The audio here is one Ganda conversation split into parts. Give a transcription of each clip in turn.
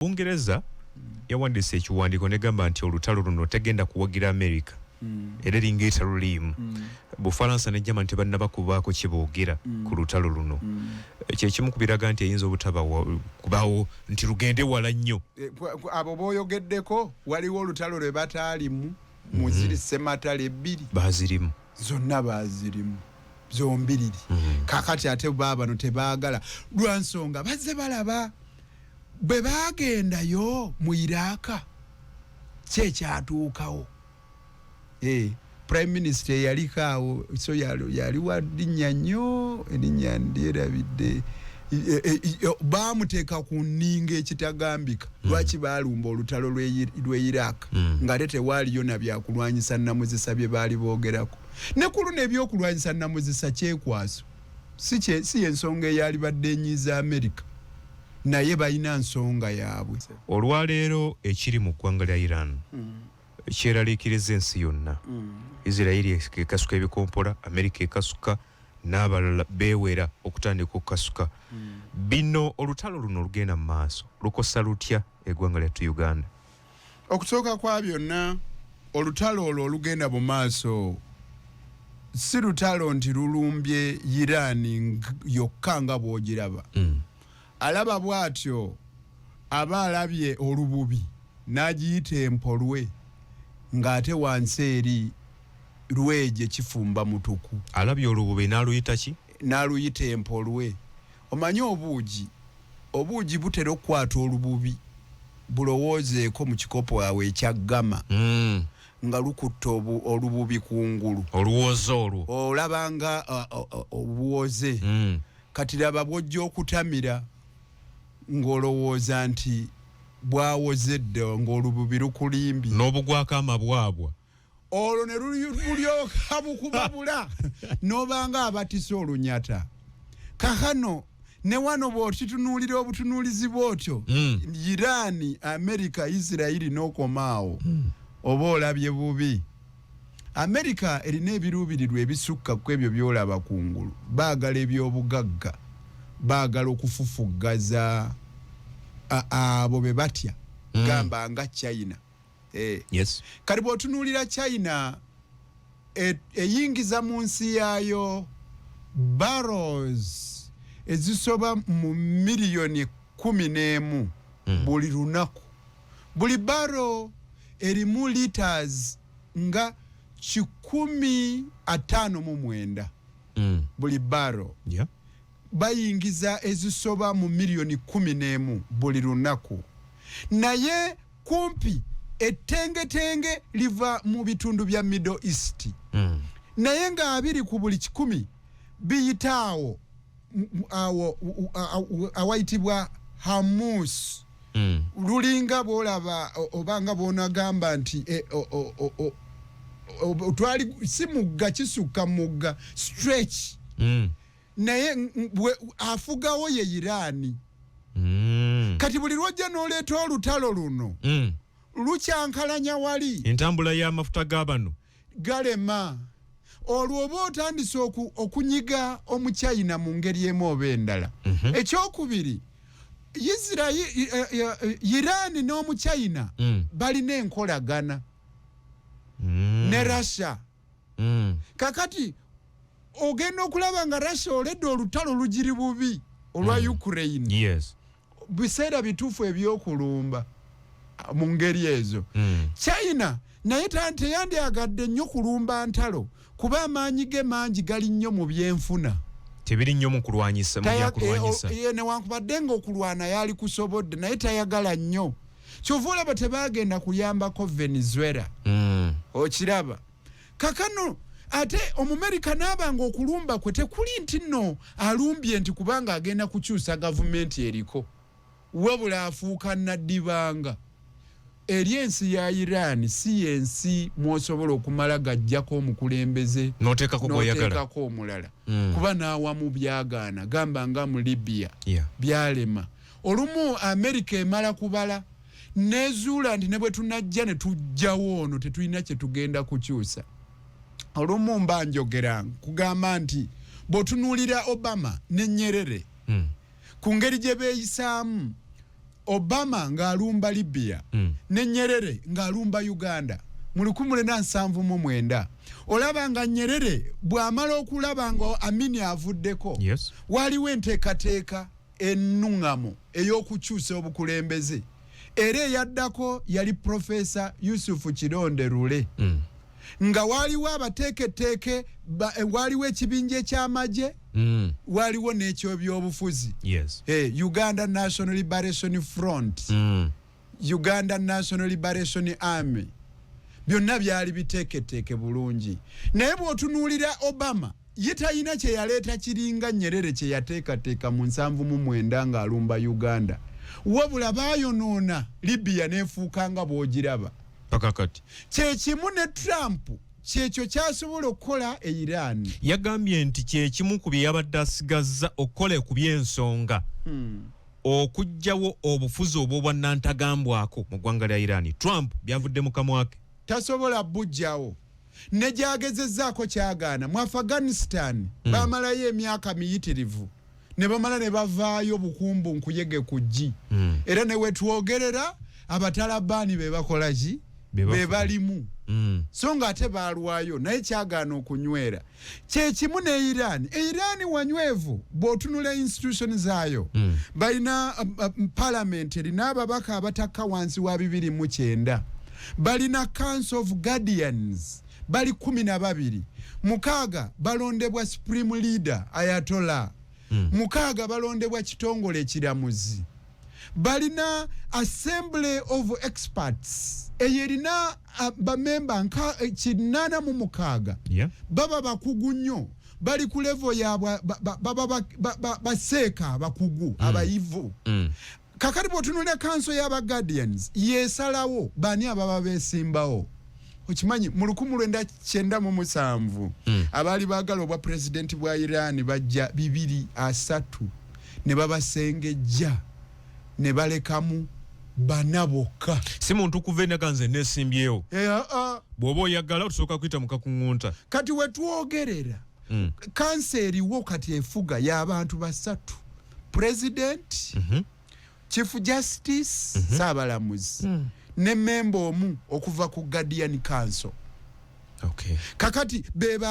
Bungereza yawandiise ekiwandiiko negamba nti olutalo luno tegenda kuwagira America mm. era eringa etaluliimu mm. Bufalansa ne Germany tebannaba kubaako kiboogera mm. ku lutalo luno mm. kyekimu kubiraga nti eyinza obutaba kubawo nti lugende wala nnyo e, abo boyogeddeko waliwo olutalo lwe bataalimu muziri mm-hmm. sematale ebbiri bazirimu zonna bazirimu zombiriri mm-hmm. kakati ate baabano tebaagala lwansonga bazze balaba Bwe baagendayo mu Iraaka, ki ekyatuukawo? Eh, Prime Minister eyaliko awo so yali wa linnya nnyo, erinnya ndyerabidde. baamuteeka ku nninga ekitagambika hmm. lwaki baalumba olutalo lw'e iraq hmm. ng'ate tewaaliyo na byakulwanyisa namuzisa bye baali boogerako ne ku luno ebyokulwanyisa namuzisa kyekwaso si yensonga eyalibadde enyiiza america naye balina nsonga yaabwe olwaleero ekiri mu ggwanga lya iran mm. kyeraliikiriza ensi yonna mm. isirairi ekasuka ebikompola america ekasuka n'abalala beewera okutandika okukasuka mm. bino olutalo luno olugenda mu maaso lukosa lutya eggwanga lyattu uganda okusooka kwa byonna olutalo olwo olugenda mu maaso si lutalo nti lulumbye iraani yokka nga bw'ogiraba mm. alaba bw'atyo aba alabye olububi n'agiyita empolwe ng'ate wansi eri lwegye kifumba mutuku alabye olububi n'aluyita ki n'aluyita empolwe Omanyi obuugi, obuugi butera okukwata olububi, bulowoozeeko, mu kikopo awo ekya ggama, nga lukutte olububi ku ngulu. Oluwooze olwo. Olaba nga obuwooze. Kati laba bw'ojja okutamira ng'olowooza nti bwawoze dda ng'olububi lukulimbye. N'obugwako amabwabwa. olwo ne lulyoka bukubabula nobanga abatisa olunyata kakano ne wano bwokitunuulira obutunuulizi bwotyo mm. irani amerika isirairi nokomaawo mm. oba olabye bubi amerika erina ebiruubirirwa ebisukka ku ebyo byolaba ku ngulu baagala ebyobugagga baagala okufufuggaza abo be batya mm. gamba nga china eh. yes. kati bwotunuulira china e, eyingiza e mu nsi yaayo barrows ezisoba mu miliyoni kumi n'emu mm. buli lunaku buli baro erimu liters nga kikumi ataano mu mwenda mm. buli baro yeah. bayingiza ezisoba mu miliyoni kkumi n'emu buli lunaku naye kumpi ettengetenge liva mu bitundu bya middle east mm. naye nga abiri ku buli kikumi biyita awo awo awayitibwa hamus mm. lulinga bwolaba obanga bwonagamba nti e, twali si mugga kisukka mugga stretch mm. naye afugawo ye iraani mm. kati buli lwojja noleeta olutalo luno mm. lukyankalanya wali entambula y'amafuta g'abano galema olwo oba otandise okunyiga omuchina mu ngeri emu oba endala mm -hmm. ekyokubiri isirairi eh, eh, eh, iraani n'omuchina mm. balina enkolagana mm. ne russia mm. kakati ogenda okulaba nga russia oledde olutalo lugiri bubi olwa mm. ukraine yes. biseera bituufu ebyokulumba uh, mu ngeri ezo mm. china naye teyandyagadde nnyo kulumba ntalo kuba amaanyi ge mangi gali nnyo mu byenfuna tebiri nnyo mu kulwanyisa eh, oh, eh, newankubadde nga okulwana yali kusobodde naye tayagala nnyo kyova olaba tebagenda kuyambako venezuela mm. okiraba kakano ate omumerika naaba nga okulumba kwe tekuli nti no alumbye nti kubanga agenda kukyusa gavumenti eriko wabula afuuka naddibanga eri ensi ya iran si yensi mwosobola okumala gajjako omukulembeze noteekako omulala mm. kuba nawamu byagaana gamba nga mu libya yeah. byalema olumu amerika emala kubala nezuula nti ne bwe tunajja ne tujjawo ono tetulina kye tugenda kukyusa olumu mba njogera kugamba nti bw'otunuulira obama ne nyerere hmm. ku ngeri gye beeyisaamu obama ng'alumba libya hmm. ne nyerere ng'alumba uganda mu lukumu lena nsanvu mu mwenda olaba nga nyerere bw'amala okulaba nga amini avuddeko yes. waliwo enteekateeka ennung'amu ey'okukyusa obukulembeze era eyaddako yali profesa yusufu kironde lule mm. nga waaliwo abateeketeeke eh, waaliwo ekibinja eky'amagye mm. waaliwo n'ekyobyobufuzi yes. hey, eh, uganda national liberation front mm. Uganda National Liberation Army byonna byali biteeketeeke bulungi naye bw'otunuulira Obama ye talina kye yaleeta kiringa Nyerere kye yateekateeka mu nsanvu mu mwenda ng'alumba Uganda wabula baayonoona Libya n'efuuka nga bw'ogiraba paka kati kye kimu ne Trump kyekyo kyasobola okukola e Iran yagambye nti kye kimu ku bye yabadde asigazza okukola ku by'ensonga hmm. okujjawo obufuzi obwobwannantagambwako mu ggwanga lya Iran. Trump byavudde mu kamwa ke. Tasobola bujjawo ne gyagezezzaako kyagaana. Mu Afghanistan hmm. baamalayo emyaka miyitirivu ne bamala ne bavaayo bukumbu nkuyege ku ggi hmm. era ne wetwogerera abatalabaani be bakola ki be balimu hmm. so nga ate baalwayo naye kyagaana okunywera. kyekimu ne iran e iran wanywevu bwotunula institution zaayo mm. balina um, um, parliament erina ababaka abatakka wansi wa bibiri mu kyenda balina council of guardians bali kumi na babiri mukaaga balondebwa supreme leader ayatola mm. mukaaga balondebwa kitongole ekiramuzi balina assembly of experts eyo erina uh, bamemba nka eh, kinaana mu mukaaga yeah. baba bakugu nnyo bali ku levo yabwe baba baseeka abakugu mm. abayivu mm. kakati bwotunulira kanso yaba guardians yesalawo bani ababa besimbawo okimanyi mu lukumu lwenda kyenda mu musanvu mm. abaali baagala obwa pulezidenti bwa iran bajja bibiri asatu ne babasengejja ne balekamu bana bokka si muntu kuva enaga nze nesimbyewo eh, ah, ah. bw'oba oyagala otusooka kuyita mukakuŋŋunta kati wetwogerera mm. kansa eriwo kati efuga y'abantu basatu pulezidenti mm -hmm. chief justice mm -hmm. saabalamuzi mm. ne memba omu okuva ku guardian council okay. kakati bebo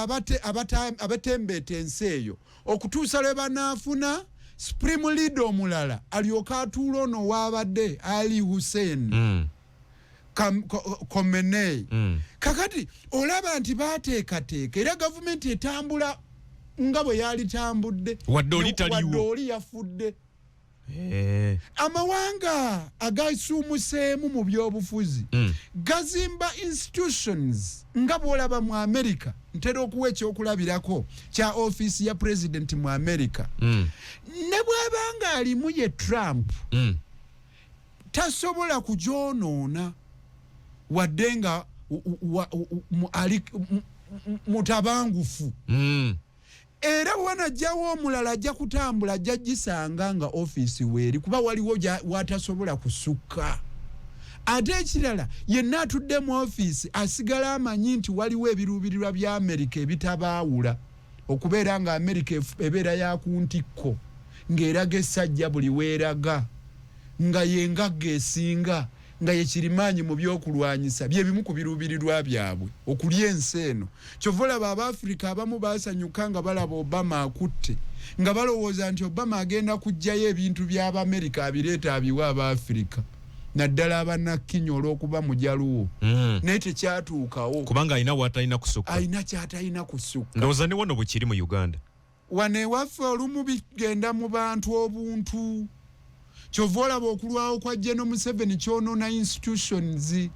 abatembeeta ensi eyo okutuusa lwe banaafuna supreme leader omulala alyoka atuula ono waabadde ali hussein mm. komenei mm. kakati olaba nti baateekateeka era gavumenti etambula nga bwe yalitambudde wadde oli yafudde Eh. amawanga agasuumuseemu mu byobufuzi mm. gazimba institutions nga bwolaba mu america ntera okuwa ekyokulabirako kya ofiisi ya pulezidenti mu america mm. ne bwaba nga alimu ye trump mm. tasobola kugyonoona wadde nga ali mutabangufu mm. era bwe banajjawo omulala ajja kutambula ajja gisanga nga ofiisi weeri kuba waliwo watasobola kusukka ate ekirala yenna atudde mu ofiisi asigala amanyi nti waliwo ebiruubirirwa bya amerika ebitabaawula okubeera nga amerika ebeera ya ku ntikko ng'eraga essajja buli weeraga nga yengagga esinga nga ye kirimaanyi mu by'okulwanyisa bye bimu ku biruubirirwa byabwe okulya ensi eno. Kyova olaba Abaafrika abamu baasanyuka nga balaba Obama akutte nga balowooza nti Obama agenda kuggyayo ebintu by'Abamerika abireeta abiwe Abaafrika naddala abanakkinya olw'okuba mujaluwo mm. naye tekyatuukawo kubanga alina watalina kusukka alina kyatalina kusukka ndowooza ne wano bwekiri mu Uganda Wano ewaffe olumu bigenda mu bantu obuntu kyova olaba okulwawo kwa Geno Museveni kyonona institutions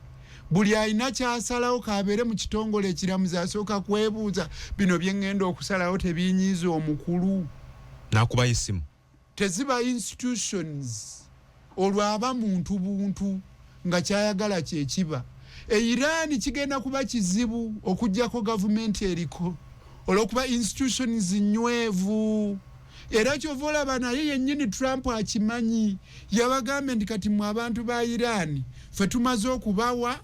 buli alina kyasalawo kabeere mu kitongole ekiramuzi asooka kwebuuza bino bye ŋŋenda okusalawo tebinyiiza omukulu nakubayo essimu teziba institutions olwo aba muntu buntu nga kyayagala kyekiba e Iran kigenda kuba kizibu okujjako gavumenti eriko olwokuba institutions nywevu era kyova olaba naye yenyini Trump akimanyi yabagambye nti kati mwe abantu ba Iran fe tumaze okubawa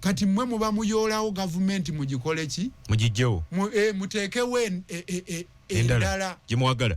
kati mwe muba muyoolawo gavumenti mugikoleki mugijjewo mu, e, muteekewo e, e, e, endala gyemwagala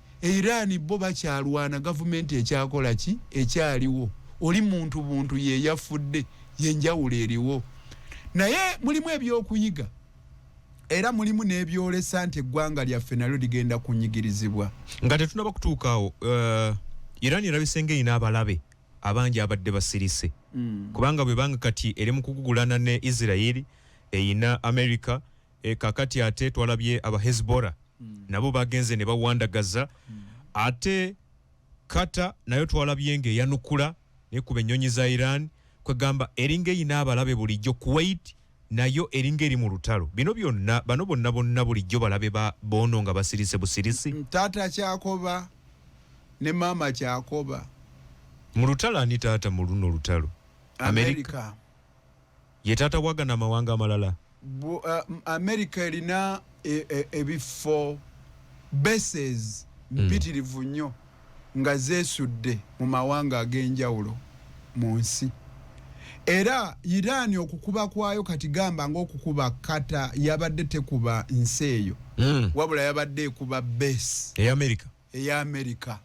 e Iran bo bakyalwana gavumenti ekyakola ki ekyaliwo oli muntu buntu yeyafudde yenjawulo eriwo naye mulimu ebyokuyiga era mulimu nebyolesa nti eggwanga lyaffe nalyo ligenda kunyigirizibwa nga tetunaba kutuukaawo uh, Iran erabisenge erina abalabe abangi abadde basirise mm. kubanga bwebanga kati eri mukugugulana ne Israeli eyina America E, kakati ate twalabye aba hezbora mm. nabo bagenze ne bawandagaza mm. ate kata nayo twalabye nga eyanukula nekuba ennyonyi za iran kwegamba eringa eyina abalabe bulijjo kuwait nayo eringa eri mu lutalo bino byonna bano bonna bonna bulijjo balabe bono nga basirise busirisi mm, taata kyakoba ne maama kyakoba mu lutalo ani taata mu luno olutalo amerika, amerika. Ye taata wa gano amawanga amalala. Bu, uh, America erina e, e, ebiffo bases hmm. mpitirivu mm. nnyo nga zesudde mu mawanga ag'enjawulo mu nsi era Iran okukuba kwayo kati gamba ng'okukuba kata yabadde tekuba nsi eyo mm. wabula yabadde ekuba base eya America eya Amerika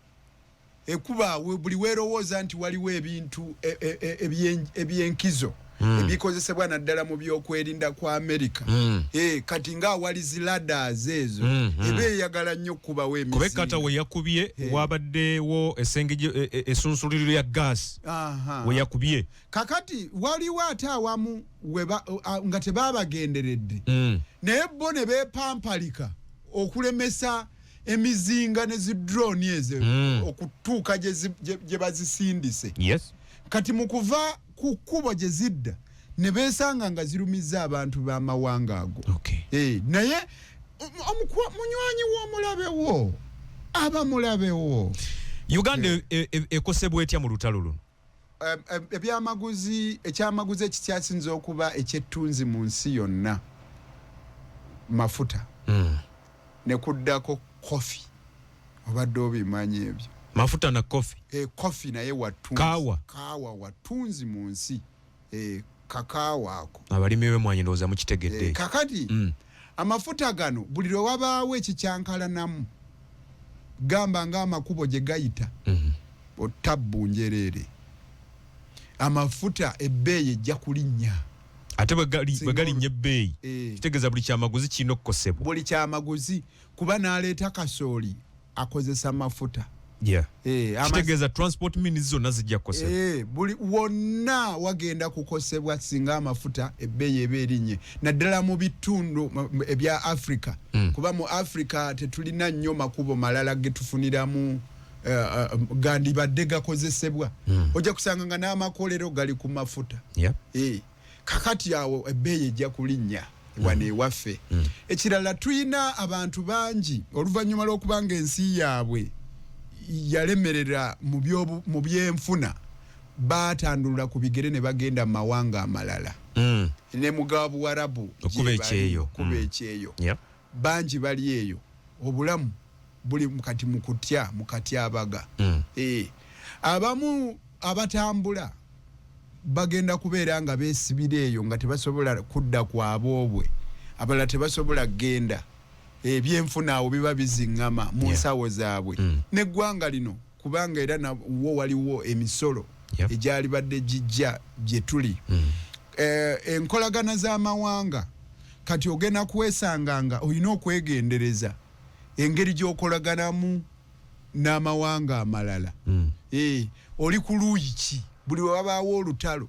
ekuba buli werowooza nti waliwo ebintu e, e, e, ebyenkizo mm. ebikozesebwa naddala mu byokwerinda kwa amerika mm. e, kati nga awali ziladas ezo mm, mm. eba eyagala nnyo okukubawo emikata weyakubye hey. Eh. wabaddewo esenge esunsuliro e, e, e, ya gas weyakubye kakati waliwo ate awamu weba, a, nga tebabagenderedde mm. naye bo ne bepampalika okulemesa emizinga ne zi drone ezo mm. okutuuka gye bazisindise yes. kati mu kuva ku kkubo gye zidda ne beesanga nga zirumizza abantu b'amawanga ago okay. hey, eh, naye munywanyi w'omulabe wo aba mulabe wo uganda ekosebwa e, e, e, etya mu lutalo luno ebyamaguzi ekyamaguzi ekikyasinza okuba ekyettunzi mu nsi yonna mafuta hmm. ne kuddako kofi obadde obimanyi ebyo mafuta na kofi e eh, kofi naye wattunzi kaawa wattunzi mu nsi eh, kakaawo ako abalimi bemwanyi ndowooza mukitegedde eh, kakati mm. amafuta gano buli lwe wabaawo ekikyankalanamu gamba ng'amakubo gye gayita mm -hmm. otabbu njereere amafuta ebbeeyi ejja kulinnya ate bwe galinnya ebbeeyi eh. kitegeeza buli kyamaguzi kirina okukosebwa buli kyamaguzi kuba naleeta kasooli akozesa mafuta eh, kitegeeza transport means zonna zijja kukosebwa eh, buli wonna wagenda kukosebwa singa amafuta ebbeeyi eba erinye naddala mu bitundu ebya africa hmm. kuba mu africa tetulina nnyo makubo malala getufuniramu eh, gandibadde gakozesebwa hmm. ojja kusanga nga n'amakolero gali ku mafuta kakati awo ebbeeyi ejja kulinnya wano mm. ewaffe mm. ekirala tulina abantu bangi oluvannyuma lw'okuba nga ensi yaabwe yalemerera mu byenfuna baatandulula ku bigere ne bagenda mu mawanga amalala mm. ne mugabuwarabu okuba ekyeyo Bangi bali eyo obulamu buli kati mu kutya mu katyabaga mm. e, abamu abatambula bagenda kubeera nga beesibira eyo nga tebasobola kudda ku aboobwe abalala tebasobola kugenda ebyenfuna awo biba biziŋŋama mu nsawo zaabwe mm. n'eggwanga lino kubanga era nawo waliwo emisolo yep. egyalibadde gijja gye tuli mm. eh, enkolagana z'amawanga kati ogenda kwesanga nga olina okwegendereza engeri gy'okolaganamu n'amawanga amalala mm. eh, oli ku luuyi ki buli wewabaawo olutalo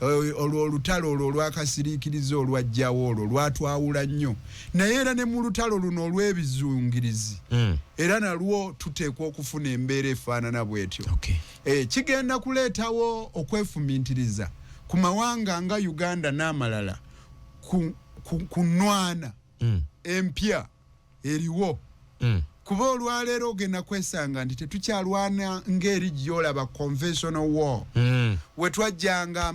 Olwo olutalo olwo olw'akasiriikirize olwajjawo olwo lwatwawula nnyo, naye era ne mu lutalo luno olw'ebizungirizi hmm. era nalwo tuteekwa okufuna embeera efaanana bw'etyo. Eh, kigenda kuleetawo okwefumintiriza ku mawanga nga Uganda n'amalala ku nnwana hmm. empya. eriwo mm. kuba olwaleero ogenda kwesanga nti tetukyalwana ngeri gyolaba conventional war mm. wetwajjanga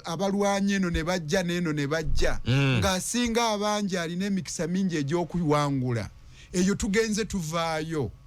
abalwanyi eno ne bajja neeno ne bajja mm. ng'asinga abangi alina emikisa mingi egy'okuwangula eyo tugenze tuvaayo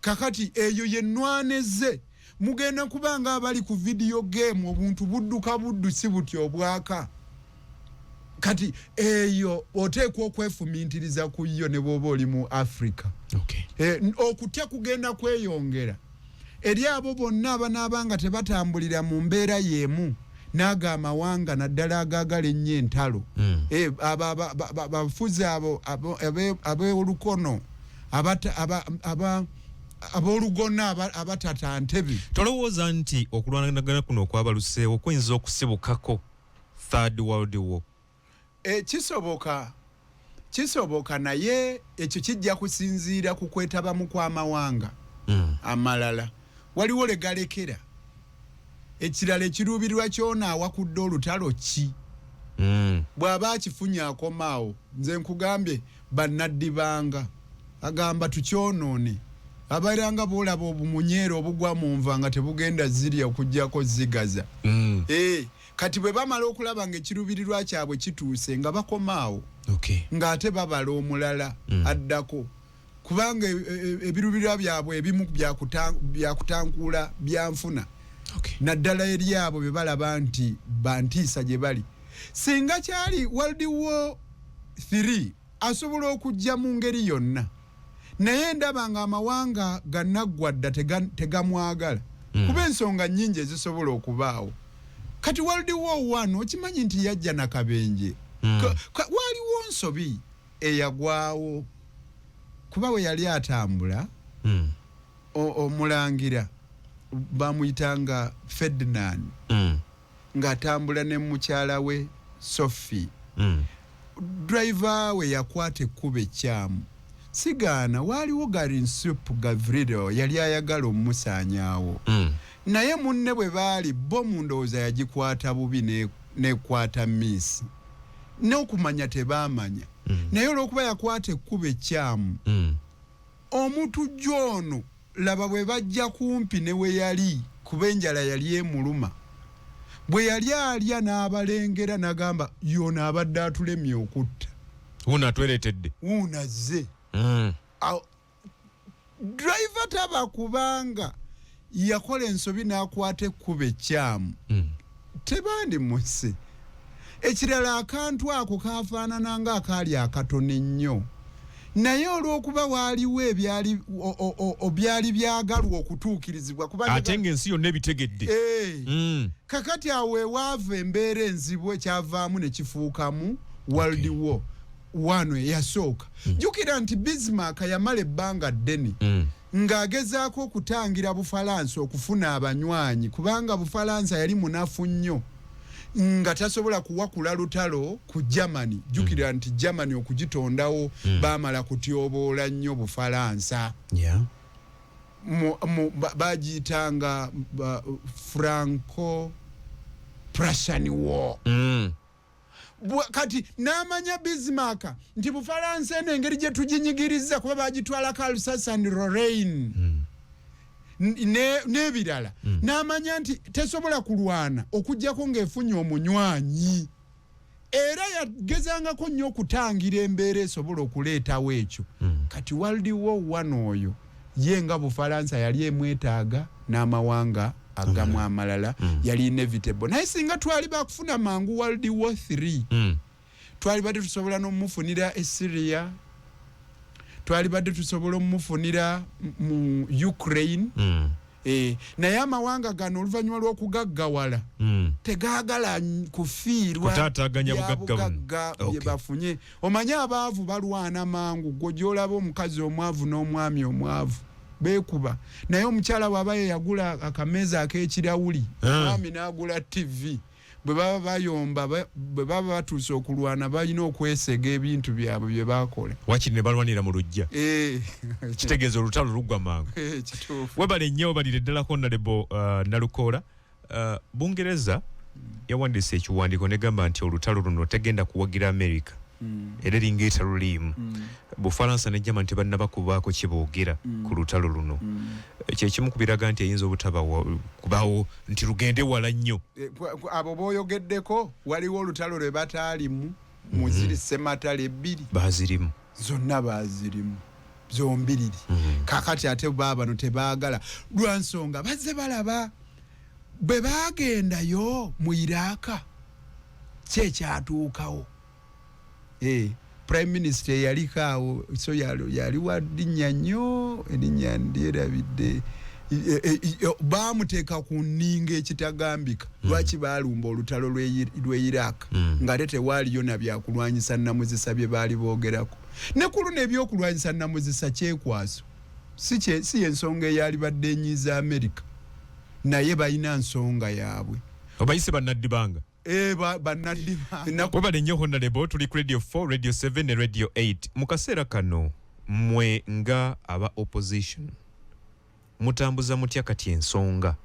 kakati eyo ye nwaneze mugenda kuba nga abali ku vidiyo geemu obuntu budduka buddu si buti obwaka kati eyo oteekwa okwefumintiriza ku yo ne bwoba oli mu africa okay. e, okutya kugenda kweyongera eri abo bonna abanaaba nga tebatambulira mu mbeera y'emu naago amawanga naddala agaagala ennyo entalo hmm. eh, abafuzi abo ab'olukono abolugona abatata ntebe tolowooza nti okulwanagana kuno okwabaluseewo kuyinza okusibukako third world war e, kisoboka kisoboka naye ekyo kijja kusinziira ku kwetabamu kw'amawanga mm. amalala waliwo legalekera ekirala ekiruubirwa kyona awakudde olutalo ki mm. bw'aba akifunye akomaawo nze nkugambye Bannaddibanga agamba tukyonoone abaira nga boolaba obumunyeero obugwa mu nva nga tebugenda zirya okugyako zigaza mm. eh, kati bwe bamala okulaba nga ekiruubirirwa kyabwe kituuse nga bakomaawo ng'ate babala omulala mm. addako kubanga e, e, e, ebiruubirirwa byabwe ebimu byakutankuula byanfuna naddala eri abo bye balaba nti bantiisa gye bali singa kyali world war 3 asobola okujja mu ngeri yonna naye ndaba nga amawanga ganaggwa dda tegamwagala hmm. kuba ensonga nyingi ezisobola okubaawo kati world war 1 okimanyi nti yajja nakabenje hmm. waliwo nsobi eyagwawo kuba we yali atambula hmm. omulangira bamuyitanga ferdinand ng'atambula ne mukyala we Sophie. Mm. Driver we yakwata ekkubo ekkyamu. Sigaana waaliwo Garinsup Gavrido yali ayagala omumusaanyaawo. Mm. Naye munne bwe baali bo mu ndowooza yagikwata bubi n'ekwata miisi. N'okumanya tebaamanya. Mm. Naye olw'okuba yakwata ekkubo ekkyamu. Mm. Omutujju ono. Laba bwe bajja kumpi ne we yali, kuba enjala yali emuluma. Bwe yali alya n'abalengera, n'agamba, Y'ono abadde atulemye okutta. Wuuno atwereetedde. Wuuno azze. Mm. Awo driver taba kubanga yakola ensobi n'akwata ekkubo ekkyamu. Mm. tebandi mu nsi ekirala akantu ako kafaanana nga akaali akatono ennyo naye olw'okuba waaliwo ebyali obyali byagalwa okutuukirizibwa kubaate ngaensi yonna ebitegedde eh. mm. kakati awo ewaava embeera enzibu ekyavaamu ne kifuukamu world war wano eyasooka mm. jjukira nti bismark yamala ebbanga ddene mm. ng'agezaako okutangira Bufalansa okufuna abanywanyi kubanga Bufalansa yali munafu nnyo nga tasobola kuwakula lutalo ku Germany. Jjukira mm. nti Germany okugitondawo mm. baamala kutyoboola nnyo Bufalansa yeah. bagiyitanga ba, Franco Prussian War mm. kati n'amanya bismark nti bufalansa eno engeri gye tuginyigiriza kuba bagitwalako alsas and rorain mm. n'ebirala mm. n'amanya nti tesobola kulwana okugyako ng'efunye omunywanyi era yagezangako nnyo okutangira embeera esobola okuleetawo ekyo mm. kati waldiwo one oyo ye nga bufalansa yali emwetaaga n'amawanga agamu amalala mm. yali inevitable naye singa twali bakufuna mangu world war 3 mm. twali badde tusobola nomufunira e syria twali badde tusobola omufunira mu ukraine mm. Eh, naye amawanga gano oluvannyuma lw'okugaggawala hmm. tegagala kufiirwatataganya bugagga bye bafunye omanye abaavu balwana mangu gwe gyolaba omukazi omwavu n'omwami omwavu bekuba naye omukyala bwaba yeyagula akameeza akekirawuli eh. mwami nagula tv bwe baba bayomba bwe baba batuuse okulwana balina okwesega ebintu byabwe bye bakola wakiri ne balwanira mu lujja eh. kitegeeza olutalo luggwa mangu eh, webale nnyo obalire ddalako nalebo uh, nalukoola Uh, Bungereza yawandiise ekiwandiiko negamba nti olutalo luno tegenda kuwagira Amerika mm. era eringa etaluliimu mm. Bufalansa ne Germany tebannaba kubaako kiboogera mm. ku lutalo luno mm. kyekimu kubiraga nti eyinza obutabakubaawo nti lugende wala nnyo eh, abo booyogeddeko waliwo olutalo lwe bataalimu muziri mm-hmm. sematale ebbiri bazirimu zonna bazirimu zombiriri mm. kakati ate babano tebagala lwansonga baze balaba bwe bagendayo mu iraaka kyekyatuukawo eh, prime minister eyaliko awo so yali wa linnya nnyo erinnya ndyerabidde e, e, e, bamuteeka ku nninga ekitagambika Hmm. lwaki baalumba olutalo lw'e iraq hmm. ng'ate tewaaliyo na byakulwanyisa namuzisa bye baali boogerako ne ku luno ebyokulwanyisa namuzisa kyekwaso si yensonga eyalibadde enyiiza amerika naye balina nsonga yaabwe obayise bannaddibanga eh, webale nnyo honalebo tuli ku radio 4 radio 7 ne radio 8 mu kaseera kano mwe nga aba opposition Mutambuza mutya kati ensonga?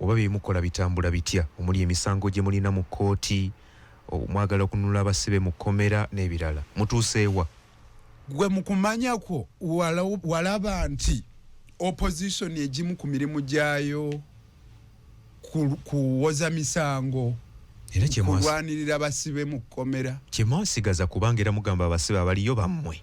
Oba bye mukola bitambula bitya omuli emisango gye mulina mu kkooti, mwagala okununula abasibe mu kkomera n'ebirala. Mutuuse wa? Ggwe mu kumanya kwo walaba nti Opozisoni egimu ku mirimu gyayo kuwoza misango, kulwanirira basibe mu kkomera? Kye mwasigaza kubanga era mugamba abasibe abaliyo bammwe.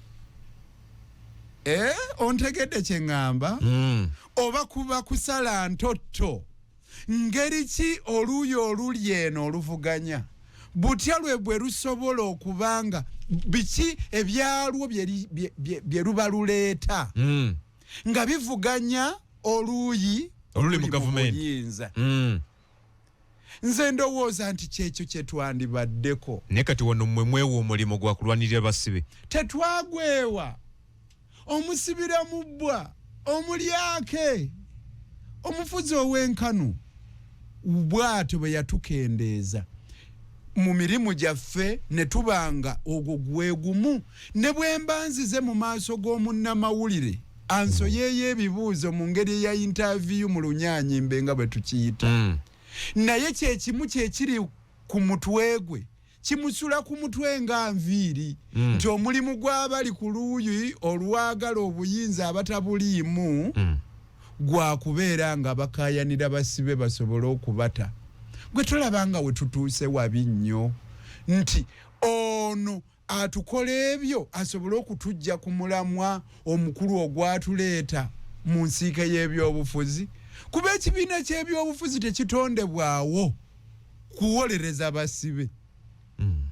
Eh, ontegedde kye ŋŋamba mm. oba kuba kusala ntotto ngeri ki oluuyi oluli eno oluvuganya butya lwe bwe lusobola okuba nga biki ebyalwo bye luba luleeta mm. nga bivuganya oluuyi oluli mu gavumenti mm. nze ndowooza nti kyekyo kyetwandibaddeko naye kati wano mwe mwewa omulimu gwa kulwanirira basibe tetwagwewa omusibira mu bbwa omulyake omufuzi ow'enkanu bwatyo bwe yatukendeeza mu mirimu gyaffe ne tuba nga ogwo gwe gumu ne bwe mba nzize mu maaso g'omunnamawulire ansoyeeyo ebibuuzo mu ngeri eya intaviyu mu lunyaanyimbe nga bwe tukiyita mm. naye kyekimu kyekiri ku mutwe gwe kimusula ku mutwe nga nviiri mm. nti omulimu gw'abali ku luuyi olwagala obuyinza abatabuliimu mm. gwa kubeera nga bakayanira basibe basobole okubata gwe tolaba nga we tutuuse wabi nnyo nti ono atukola ebyo asobole okutujja ku mulamwa omukulu ogwatuleeta mu nsiike y'ebyobufuzi kuba ekibiina ky'ebyobufuzi tekitondebwawo kuwolereza basibe hmm.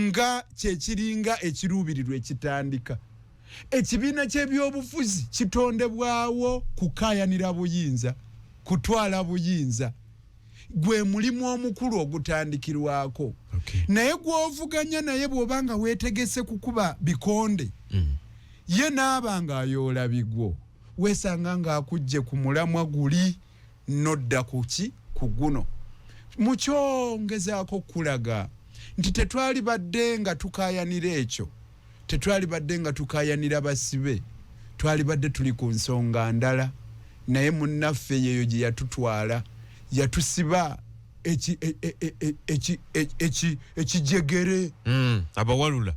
nga kyekiringa ekiruubirirwa ekitandika ekibiina ky'ebyobufuzi kitondebwawo kukaayanira buyinza kutwala buyinza gwe mulimu omukulu ogutandikirwako okay. naye gwovuganya naye bwoba nga wetegese kukuba bikonde mm. ye naaba nga ayoola bigwo wesanga nga akujje ku mulamwa guli nodda kuki ku guno mukyongezako kulaga nti tetwali badde nga tukayanira ekyo Tetwalibadde nga tukaayanira basibe, twalibadde tuli ku nsonga ndala. Naye munnaffe yeeyo gye yatutwala. Yatusiba eki, e, e, e, e, eki, e, eki, ekijegere. Mm, abawalula.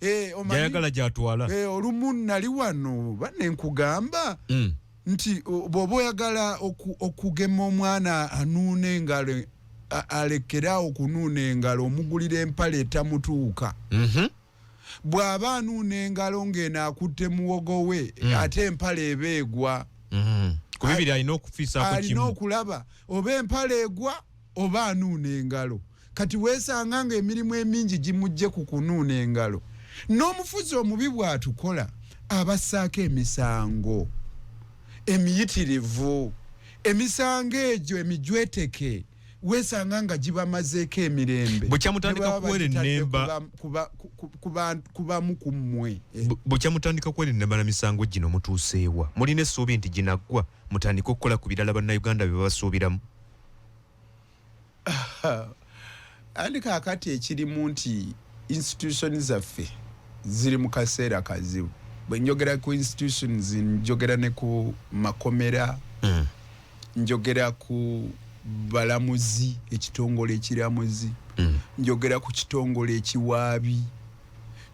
Eh, omanyi, Gyayagala gy'atwala. Eh, olumu nali wano, bane nkugamba. Mm. nti bwoba oyagala okugema omwana anuuna engalo alekere awo kunuuna engalo omugulira empale etamutuuka mhm. bw'aba anuuna engalo ng'eno akutte muwogo we mm. ate empale eba egwa mhm. kubibiri alina okufiisako kimu alina okulaba oba empale egwa oba anuuna engalo kati weesanga ng'emirimu emingi gimujje ku kunuuna engalo n'omufuzi omubi bw'atukola abassaako emisango emiyitirivu emisango egyo emijweteke weesanga nga gibamazeeko emirembe bukya mutandika kwerenemba ku bamu ku mmwe bukya mutandika kwerenemba na misango gino mutuuseewa mulina essuubi nti ginaggwa mutandike okukola ku birala bannayuganda bye babasuubiramu andi kakati ekirimu nti institution zaffe ziri mu kaseera kazibu bwe njogera ku institutions njogera ne ku makomera mm. njogera ku balamuzi ekitongole ekiramuzi mm. njogera ku kitongole ekiwaabi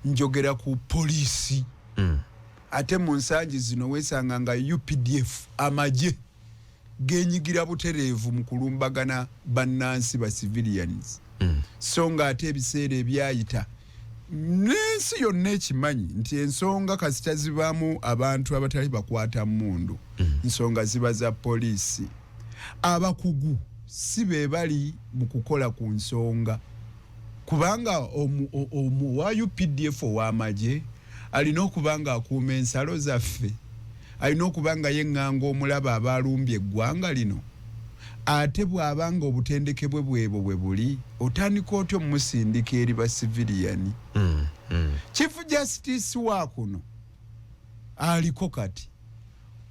njogera ku poliisi mm. ate mu nsangi zino weesanga nga updf amagye genyigira butereevu mu kulumbagana bannansi ba civilians mm. so nga ate ebiseera ebyayita n'ensi yonna ekimanyi nti ensonga kasita zibaamu abantu abatali bakwata mundu mm. nsonga ziba za poliisi abakugu si be bali mu kukola ku nsonga kubanga omu, omu, omu wa updf ow'amagye Alina okuba ng'akuuma ensalo zaffe. Alina okuba nga yeŋŋanga omulabe aba alumbye eggwanga lino. Ate bw'aba ng'obutendeke bwe bw'ebwo bwe buli, otandika otya omusindika eri basiviliyani? Chief Justice wa kuno aliko kati.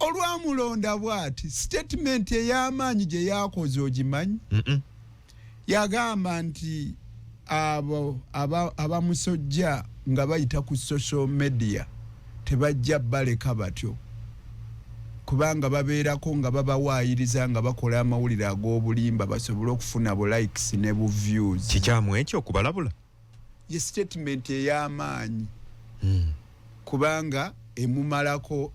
Olwamulonda bw'ati, sitatimenti ey'amaanyi gye yakoze ogimanyi? Yagamba nti abo abamusojja aba nga bayita ku social media tebajja baleka batyo kubanga babeerako nga babawaayiriza nga bakola amawulire ag'obulimba basobole okufuna bu likes ne bu views. Kikyamu ekyo okubalabula? ye statement ey'amaanyi hmm. kubanga emumalako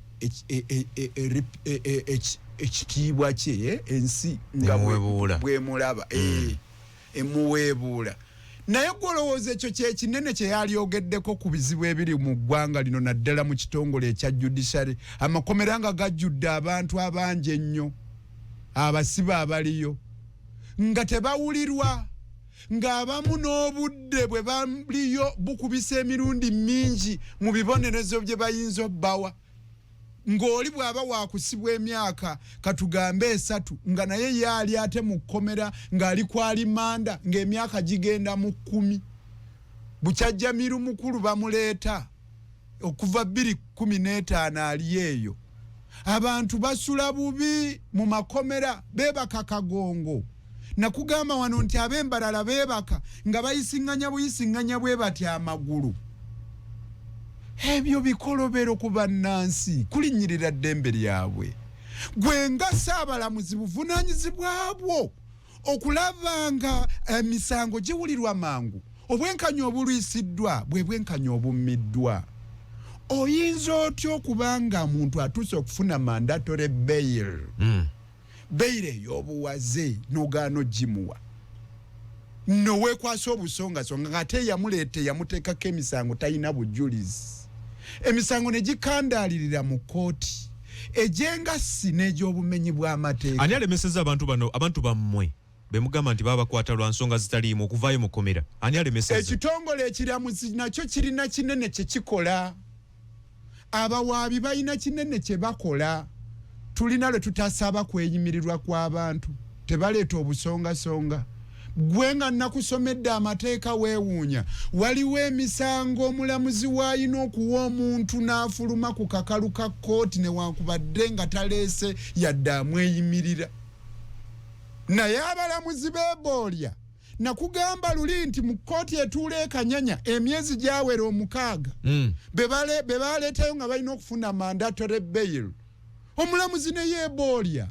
ekitiibwa kye eh, ensi nga bwemulaba eh, hmm. emuweebuula naye gwolowooza ekyo kyekinene kyeyalyogeddeko ku bizibu ebiri mu ggwanga lino naddala mu kitongole ekya judiciary amakomera nga gajjudde abantu abangi ennyo abasibe abaliyo nga tebawulirwa ng'abamu n'obudde bwe baliyo bukubisa emirundi mingi mu bibonerezo bye bayinza obbawa ng'oli bw'aba waakusibwa emyaka katugambe esatu nga naye ye ali ate mu kkomera ng'ali ku alimanda ng'emyaka gigenda mu kkumi bukyajjamiru mukulu bamuleeta okuva bbiri kumi n'etaano ali eyo abantu basula bubi mu makomera beebaka kagongo nakugamba wano nti ab'embalala beebaka nga bayisiŋŋanya buyisiŋŋanya bwe bati amagulu ebyo bikolobero ku bannansi kulinnyirira ddembe lyabwe gwe nga saabalamuzi buvunaanyizibwa bwo okulaba nga emisango eh, giwulirwa mangu obwenkanya obulwisiddwa bwe bwenkanya obummiddwa oyinza otya okuba nga muntu atuuse okufuna mandatore bail hmm. bail eyobuwaze nogaano gimuwa nowekwasa obusongasonga ngaate yamuleeta yamuteekako emisango talina bujulizi emisango ne gikandaalirira mu kooti egy'engassi n'egy'obumenyi bw'amateeka. Ani alemesezza abantu bano abantu bammwe be mugamba nti babakwata lwa nsonga zitaliimu okuvaayo mu kkomera? Ani alemesezza? Ekitongole ekiramuzi nakyo kirina kinene kye kikola. Abawaabi balina kinene kye bakola. Tulina lwe tutasaba kweyimirirwa kw'abantu. Tebaleeta obusongasonga. gwe nga nakusomedde amateeka weewuunya waliwo emisango omulamuzi waalina okuwa omuntu n'afuluma ku kakalu ka kkooti newankubadde nga taleese yadde amweyimirira naye abalamuzi beeboolya nakugamba luli nti mu kkooti etuula ekanyanya emyezi gyawera omukaaga hmm. be baleetayo nga balina okufuna mandatory bail omulamuzi ne yeeboolya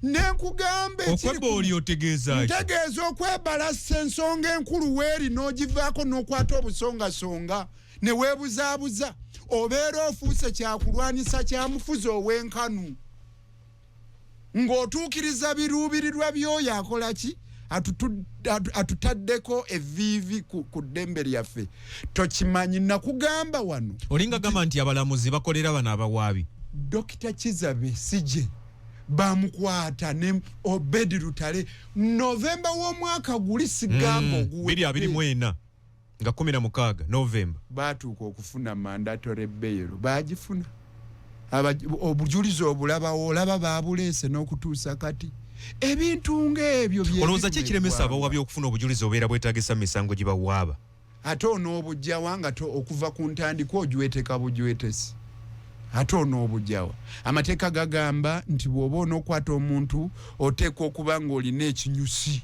ne nkugamba ekiriokweboolya otegeeza ntegeeza okwebalassa ensonga enkulu weeri n'ogivaako n'okwata obusongasonga ne weebuzaabuza obeera ofuuse kyakulwanyisa kya mufuzi ow'enkanu ng'otuukiriza biruubirirwa by'oyo akola ki atutaddeko eviivi ku ddembe lyaffe tokimanyi nakugamba wano olinga gamba nti abalamuzi bakolera bano abawaabi dokita kizabe sije bamukwata ne obedi lutale novemba w'omwaka guli sigamba mm, oguwe nga kumi na mukaaga novemba baatuuka okufuna mandatory bail baagifuna obujulizi obulabawo olaba baabuleese n'okutuusa kati ebintu ng'ebyo olowooza ki ekiremesa abawabi okufuna obujulizi obeera bwetagisa mu misango gye bawaaba ate onoobujjawa nga okuva ku ntandikwa ojweteka bujwetesi ate onoobujjawa amateeka gagamba nti bw'oba onookwata omuntu oteekwa okuba ng'olina ekinyusi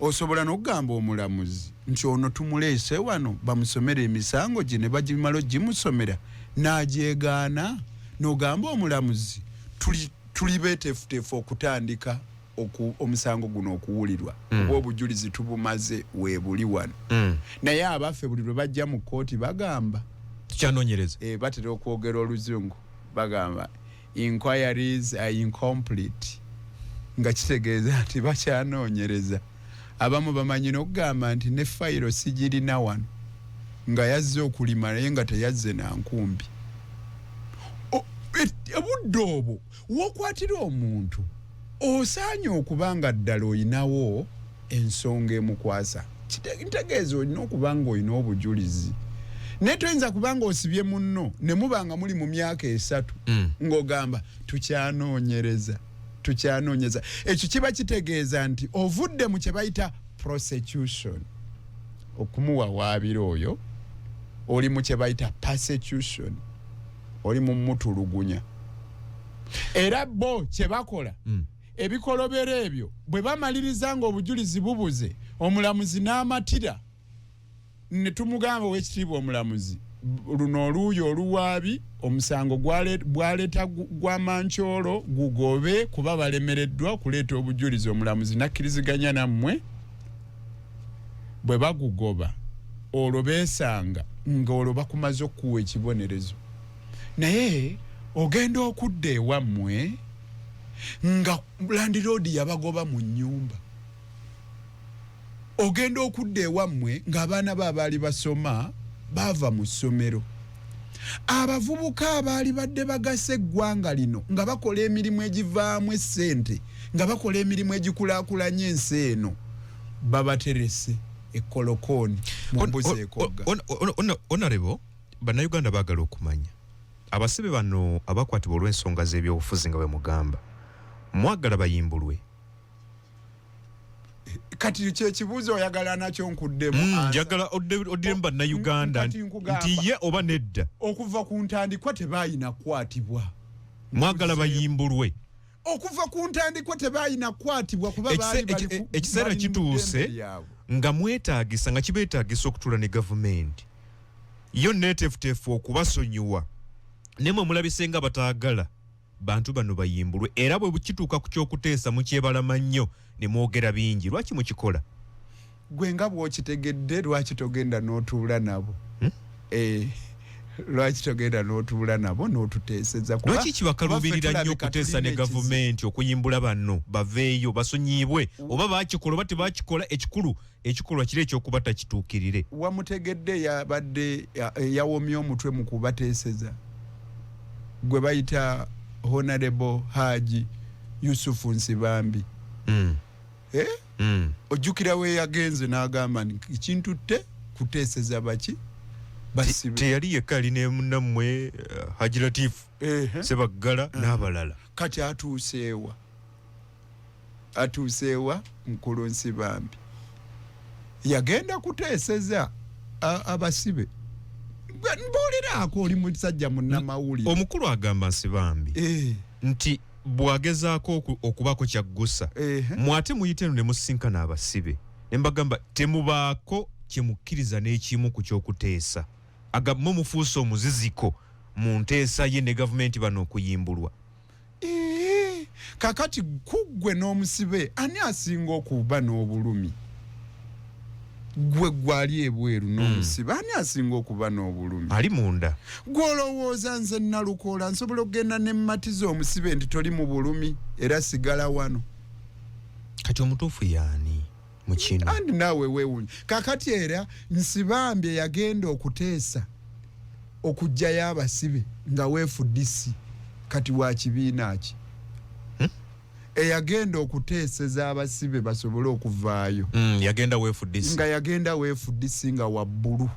Osobola n'okugamba omulamuzi nti ono tumuleese wano bamusomere emisango gye ne bagimala ogimusomera n'agyegaana n'ogamba omulamuzi tuli tuli beeteefuteefu okutandika oku, omusango guno okuwulirwa mm. kuba obujulizi tubumaze weebuli wano mm. naye abaffe buli lwe bajja mu kkooti bagamba tukyanoonyereza e, batera okwogera oluzungu bagamba inquiries are incomplete nga kitegeeza nti bakyanoonyereza abamu bamanyi n'okugamba nti ne fayiro sigirina wano nga yazze okulima naye nga teyazze na nkumbi obudde obwo wokwatira omuntu osaanye okuba nga ddala olinawo ensonga emukwasa ntegeeza olina okuba nga olina obujulizi naye toyinza kuba nga osibye munno ne muba nga muli mu myaka esatu mm. ng'ogamba tukyanoonyereza tukyanoonyeza ekyo kiba kitegeeza nti ovudde mu kye bayita prosecution okumuwawaabira oyo oli mu kye bayita persecution oli mumutulugunya era bo kyebakola mm. ebikolobero ebyo bwe bamaliriza nga obujulizi bubuze omulamuzi n'amatira ne tumugamba owekitiibwa omulamuzi luno oluuyi oluwaabi omusango bwaleeta gwa mankyolo gugobe kuba balemereddwa okuleeta obujulizi omulamuzi nakkiriziganya nammwe bwe bagugoba olwo beesanga ng'olwo bakumaze okukuwa ekibonerezo naye ogenda okudda ewammwe nga landiroodi yabagoba mu nnyumba ogenda okudda ewammwe ng'abaana be abaali basoma baava mu ssomero abavubuka abaali badde bagasa eggwanga lino nga bakola emirimu egivaamu essente nga bakola emirimu egikulaakulanya ensi eno babaterese ekolokooni mumbuzi ekogga onarebo bannayuganda baagala okumanya abasibe bano abakwatibwa olw'ensonga z'ebyobufuzi nga bwe mugamba mwagala bayimbulwe kati kyekibuuzo oyagala nakyo nkuddemu mm, njagala oddemu bannayuganda nti ye oba nedda okuva ku ntandikwa tebaayina kukwatibwa mwagala bayimbulwe okuva ku ntandikwa tebalina kukwatibwa kuba ekiseera kituuse nga mwetaagisa nga kibeetaagisa okutuula ne gavumenti yo neetefuteefu okubasonyiwa naye mwe mulabise nga bataagala bantu bano bayimbulwe era bwe kituuka ku ky'okuteesa mukyebalama nnyo ne mwogera bingi lwaki mukikola gwe nga bwokitegedde lwaki togenda notuula nabo hmm? eh, lwaki togenda notuula nabo notuteeseza lwaki kibakaluubirira nnyo okuteesa ne gavumenti okuyimbula banno baveeyo basonyiyibwe oba bakikola oba tebakikola ekikulu ekikolwa kiri ekyokuba takituukirire wamutegedde yabadde yawomye omutwe mu kubateeseza gwe bayita honarebo haji yusufu nsibambi mm. eh? mm. ojjukira weyagenze n'agamba nti ekintutte kuteeseza baki teyali yekka ali ne munammwe eh, haji latifu sebaggala eh. n'abalala kati atuuseewa atuuseewa mukulu nsibambi yagenda kuteeseza abasibe mbuuliraako oli musajja munnamawulire omukulu agamba nsibambi eh. nti bwagezaako okubaako kyaggusa mwate muyite eno ne musinkana abasibe ne mbagamba temubaako kye mukkiriza n'ekimu ku ky'okuteesa agamwe mufuuse omuziziko mu nteesa ye ne gavumenti bano okuyimbulwa kakati kuggwe n'omusibe ani asinga okuba n'obulumi gwe gwali ebweru hmm. nomusiba ani asinga okuba n'obulumi ali munda gwolowooza nze nalukoola nsobola okugenda nemmatiza omusibe nti toli mu bulumi era sigala wano kati omutuufu yaani mukino andi naawe wewunya kakati era nsibambye yagenda okuteesa okugjayo abasibe nga weefudisi kati wa kibiina ki eyagenda okuteeseza abasibe basobole okuvaayo mm, yagenda wefudisi nga yagenda wefudisi nga wabbulu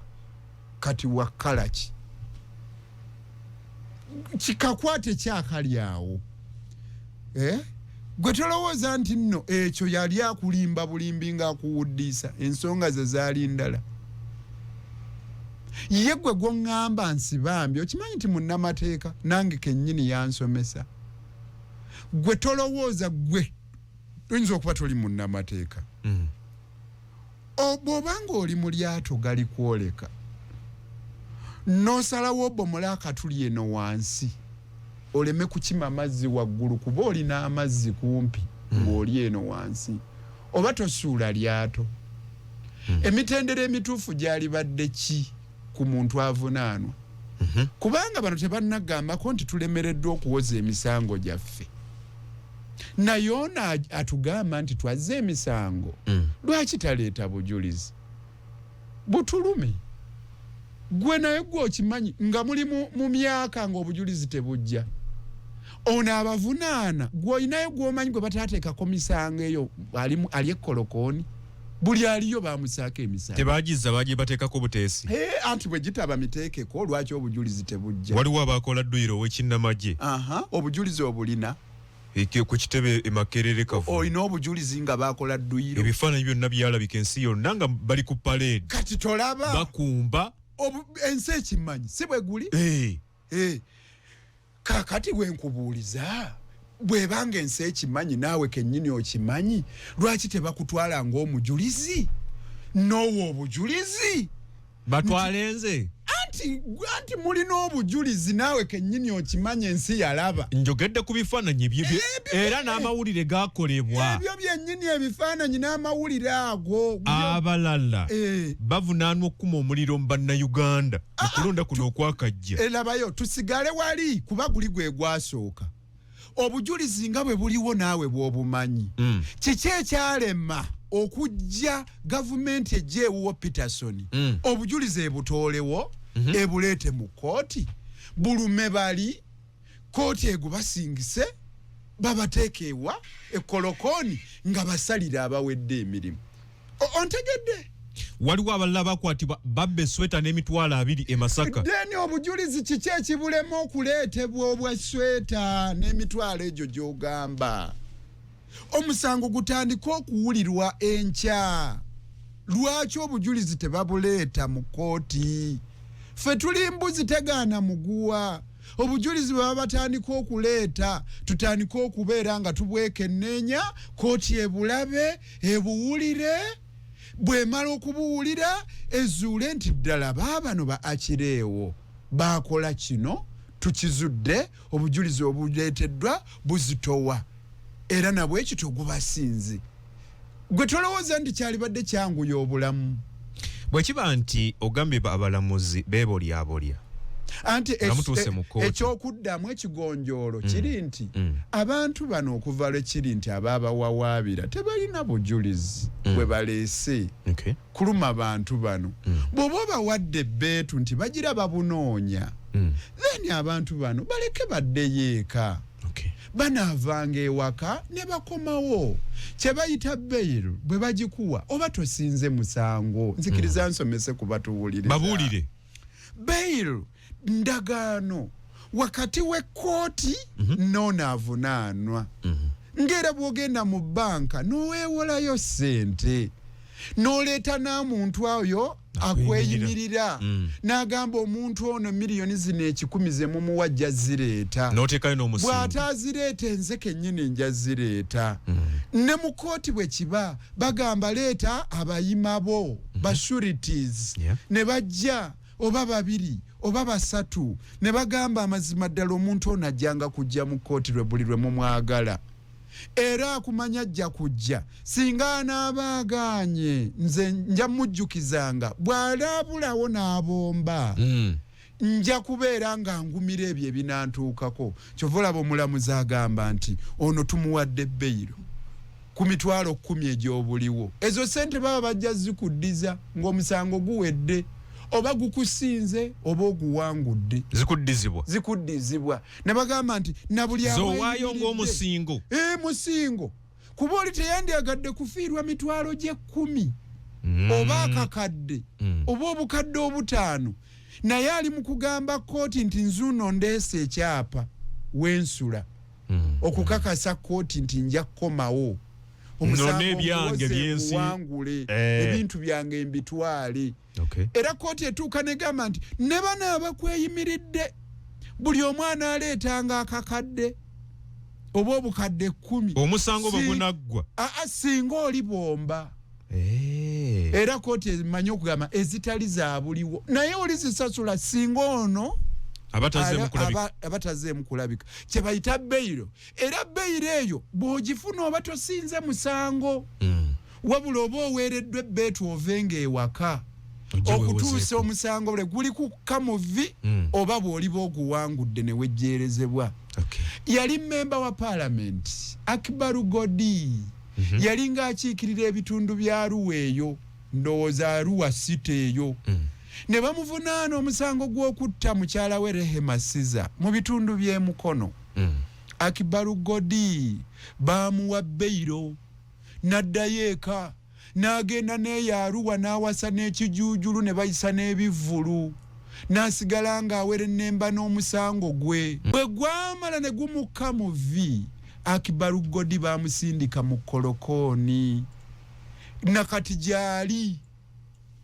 kati wakalaki kikakwate kyakali awo eh? gwe tolowooza nti nno ekyo yali akulimba bulimbi ngaakuwuddiisa ensonga ze zaali ndala ye gwe gwoŋŋamba nsi bambi okimanyi nti munnamateeka nange kennyini yansomesa gwe tolowooza gwe oyinza okuba toli munnamateeka mm. bw'oba ng'oli mu lyato gali kwoleka n'osalawo obomola akatuli eno wansi oleme kukima mazzi waggulu kuba olina amazzi kumpi mm. ng'oli eno wansi oba tosuula lyato mm. emitendera emituufu gyalibadde ki ku muntu avunaanwa mhm. kubanga bano tebannagambako nti tulemereddwa okuwoza emisango gyaffe naye ono atugamba nti twazze emisango mm. lwaki taleeta bujulizi butulume gwe naye gwe okimanyi nga muli mu myaka ng'obujulizi tebujja ono abavunaana gweolinayo gwomanyi gwe bataateekako misango eyo ali ekkolokooni buli aliyo bamusaako emisango tebagizza baje bateekako buteesi hey, anti bwe gitaba miteekeko lwaki obujulizi tebujja waliwo abaakola dduyiro owekinnamagye aha obujulizi obulina ku kitebe e makerere kavu olina obujulizi nga baakola dduyiro ebifaananyi byonna byalabika ensi yonna nga bali ku paleedi kati tolaba bakumba ensi ekimanyi si bwe guli hey. Eh, kakati wenkubuuliza bwebanga ensi ekimanyi naawe kenyini okimanyi lwaki tebakutwala ngaomujulizi noowa obujulizi batwale nze anti anti mulina obujulizi naawe kenyini okimanyi ensi yalaba njogedde ku bifaananyi bye bye- Ebyo- era n'amawulire gakolebwa ebyo byenyini ebifaananyi n'amawulire ago abalala Eh, bavunaanwa okukuma omuliro mu bannayuganda okulonda kuno okwakajja eh, labayo tusigale wali kuba guli gwe gwasooka obujulizi nga bwe buliwo naawe bwobumanyi mm. kiki ekyalema okujja gavumenti ejja ewuwo peterson mm. obujulizi ebutoolewo mm -hmm. ebuleete mu kooti bulume bali kooti egubasingise babateeka ewa ekolokooni nga basalira abawedde emirimu ontegedde waliwo abalala bakwatibwa babba esweta n'emitwalo abiri e masaka deni obujulizi kiki ekibulema okuleetebwa obwa sweta n'emitwalo egyo gy'ogamba omusango gutandika okuwulirwa enkya lwaki obujulizi tebabuleeta mu kkooti ffe tuli mbuzi tegaana muguwa obujulizi bwe baba batandika okuleeta tutandika okubeera nga tubwekenneenya kkooti ebulabe ebuwulire bwemala okubuwulira ezuule nti ddala baabano ba akireewo baakola kino tukizudde obujulizi obuleeteddwa buzitowa era nabwekityo gubasinze gwe tolowooza nti kyalibadde kyanguya obulamu bwekiba nti ogambye abalamuzi bebolyabolya anti ekyokuddamu ekigonjoolo mm. kiri nti mm. abantu bano okuva lwekiri nti ababawawaabira tebalina bujulizi mm. bwe baleese kuluma bantu bano bwoba obawadde ebbeetu nti bagira babunoonya then abantu bano baleke baddeyo eka okay. banaavanga ewaka ne bakomawo kye bayita beyiro bwe bagikuwa oba tosinze musango nzikiriza mm. nsomese ku batuwulire babuulire beyiro ndagaano wakati w'ekkooti mm -hmm. n'onaavunaanwa mm -hmm. ngera bwogenda mu banka nowewolayo sente noleta namuntu oyo akweyimirira mm. n'agamba omuntu ono miliyoni zino ekikumi ze mumuwa ajja zireeta bw'ata azireeta enze kennyini nja zireeta mm. ne mu kooti bwe kiba bagamba leeta abayima bo mm-hmm. bashurities ne bajja oba babiri oba basatu ne bagamba amazima ddala omuntu ono ajjanga kujja mu kooti lwe buli lwe mumwagala era akumanya ajja kujja singa anaaba agaanye nze nja mujjukizanga bw'alaabulawo n'abomba mm. nja kubeera nga ngumira ebyo ebinantuukako kyova olaba omulamuzi agamba nti ono tumuwadde beyiro ku mitwalo kkumi egy'obuliwo ezo sente baba bajja zikuddiza ng'omusango guwedde oba gukusinze oba oguwangudde zikuddizibwa zikuddizibwa ne bagamba nti na buli awaayo ng'omusingo ee eh, musingo kuba oli teyandyagadde kufiirwa mitwalo gy'ekkumi mm. oba akakadde mm. oba obukadde obutaano naye ali mu kugamba kkooti nti nzuuno ndeesa ekyapa wensula mm. okukakasa kkooti nti nja kukomawo omusango ngwangule eh. ebintu byange mbitwale era kkooti etuuka negamba nti ne bano abakweyimiridde buli omu anaaleetanga akakadde oba obukadde ekkumi omusango bwe gunaggwa aa singa oli bwomba eh. era kkooti emanyi okugamba ezitali zabuliwo naye oli zisasula singa ono abatazeemu kulabika kye bayita beyiro era beyiro eyo bw'ogifuna oba tosinze musango mm. wabula oba oweereddwa ebbeetu ove ng'ewaka okutuusa omusango bule guli kukka mu vi hmm. oba bw'oliba oguwangudde ne wejjeerezebwa yali mmemba wa paalamenti akibaru godi mhm. yali ng'akiikirira ebitundu bya ruwa eyo ndowooza ruwa site eyo hmm. ne bamuvunaana omusango gw'okutta mukyala we rehema siza mu bitundu by'emukono hmm. akibaru godi baamuwa beyiro n'addayo eka n'agenda n'eyo Arua n'awasa n'ekijuujulu ne bayisa n'ebivvulu n'asigala ng'awerennemba n'omusango gwe. Bwe gwamala ne gumukka mu vvi, Akibaru Godi baamusindika mu kkolokooni na kati gy'ali.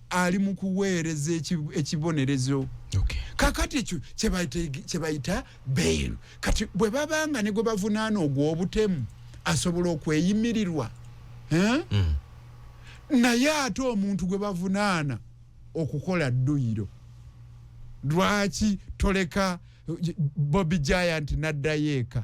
ali mu kuweereza ekibonerezo kakati ekyo kyebayita bairu kati bwe babanga ne gwe bavunaana ogw'obutemu asobola okweyimirirwa hmm. naye ate omuntu gwe bavunaana okukola dduyiro lwaki toleka bobi giant n'addayo eka